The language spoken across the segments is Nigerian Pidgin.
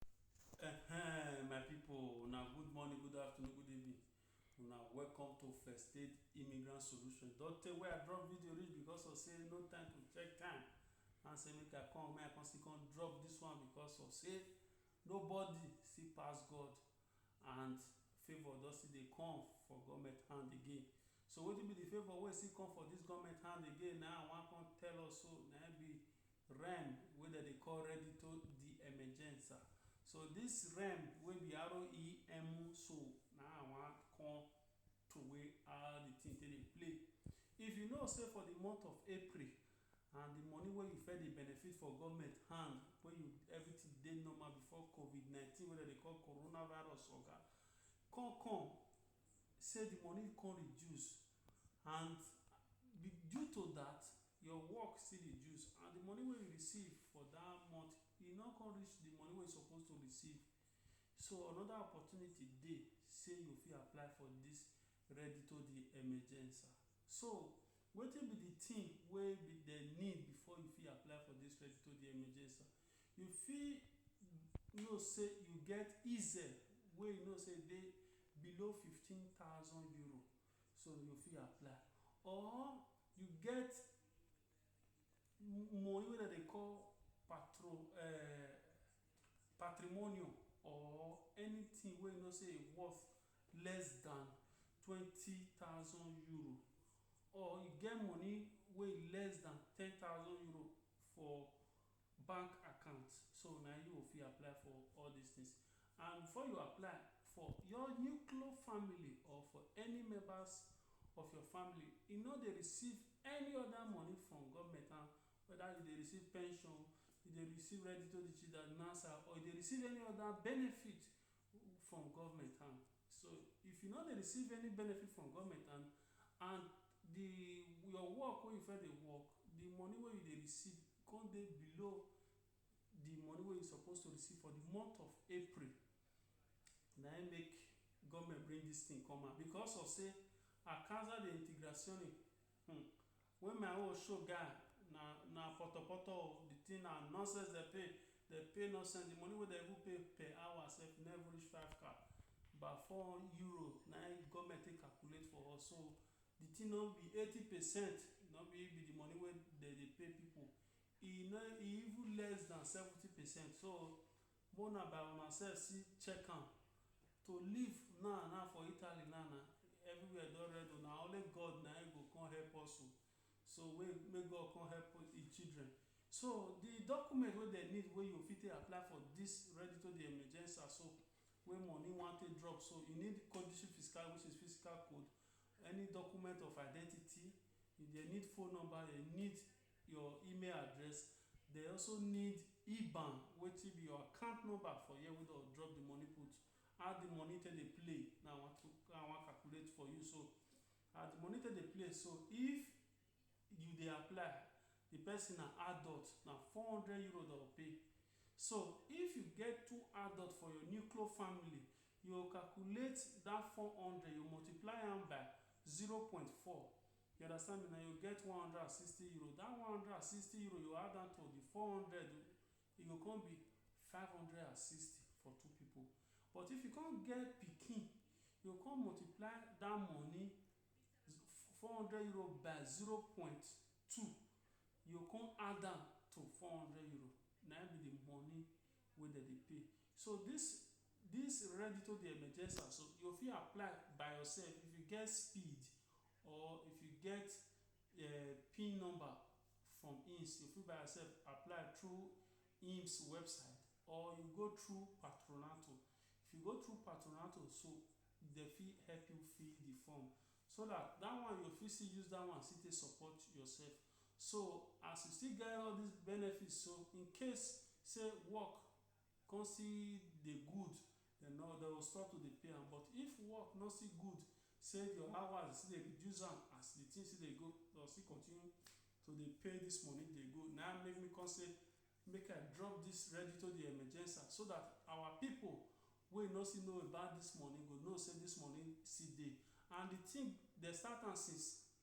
Ehen, my people, una good morning, good afternoon, good evening. Una welcome to First Aid Immigrant Solution. Don tey wey I drop video reach because of say no time to check time. And say make I come, make I come still come drop this one because of say nobody fit pass God and favour don still dey come for government hand again. So wetin be the favour wey still come for this government hand again na I wan come tell us so na im be REM wey dem dey call Reddito di Emergenza. So dis REM wey be R-E-M-U so, na I wan come throway how di tin take dey play. If you know sey for di month of April and di money wey you first dey benefit for government hand wey you everytin dey normal before covid nineteen wey dem dey call corona virus oga come come sey di money come reduce and due to dat Your work still dey juice and the money wey you receive for that month e no come reach the money wey you suppose to receive so another opportunity dey say you fit apply for this Reddito de Emergença so wetin be the thing wey be the need before you fit apply for this Reddito de Emergença you fit know say you get EZ wey you know say e dey below fifteen thousand euro so you fit apply or you get money wey dem dey call patro um patrimonium or anything wey you know sey e worth less than twenty thousand euro or you get money wey e less than ten thousand euro for bank account so na you go fit apply for all dis things and before you apply for your nuclear family or for any members of your family e no dey receive any other money from government and whether you dey receive pension you dey receive or you dey receive any other benefit from government hand so if you no dey receive any benefit from government hand and the your work wey you first dey work the money wey you dey receive come dey below the money wey you suppose to receive for the month of April na im make government bring this thing come out because of sey a causa de integrazione um Wey my own show guy na na potopoto o the thing na nonsense dem pay dem pay nonsense the money wey dem even pay per hour sef e no even reach five ka ba four euro na him government take calculate for us so the thing no be eighty percent na be him be the money wey dem dey pay people e no e even less than seventy percent so Make una by una self see check am to live now now for Italy now na everywhere don red o na only God na him go come help us o so wey make God come help him children so the document wey dem need wey you fit take apply for this reddito de emergenza so wey money wan take drop so you need codice fiscale which is physical code any document of identity if dem need phone number dem need your email address they also need iban wetin be your account number for here wey don drop the money put how the money take dey play na i wan to na i wan calculate for you so as the money take dey play so if you dey apply the person na adult na four hundred euro dem go pay so if you get two adult for your nuclear family you go calculate that four hundred you multiply am by zero point four You understand me na, you get one hundred and sixty euro dat one hundred and sixty euro you add am to di four hundred oh, e go come be five hundred and sixty for two pipu. But if you come get pikin, you go come multiply dat money four hundred euro by zero point two, you go come add am to four hundred euro, na im be di money wey dem dey pay. So dis dis Reddito de Emergensa so, you go fit apply by yourself if you get speed. Or if you get pin number from IMSS, you fit by yourself apply through IMSS website or you go through Patronato. If you go through Patronato so, dem fit help you fill the form so dat dat one you go fit still use dat one still take support yourself. So, as you still get all dis benefits so, in case sey work come see dey good dem no dem go stop to dey pay am but if work no still good sey your hours still dey reduce am as dey thing still dey go dem go still continue to dey pay dis money dey go na im make me come sey make I drop dis Reddito de Emergenza so dat our pipu wey no still know about dis money go know sey dis money still dey and dey thing dem start am since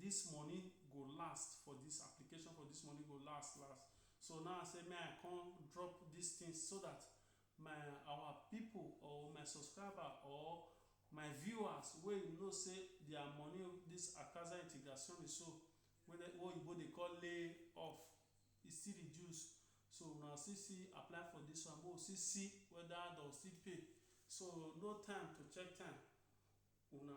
this money go last for this application for this money go last last so now I say may I come drop this thing so that my our people or my subscriber or my viewers wey you know say their money this Akaza Integrazione so wey dem wey oyibo dey call lay off e still reduce so una still see apply for this one make we still see whether dem go still pay so no time to check time una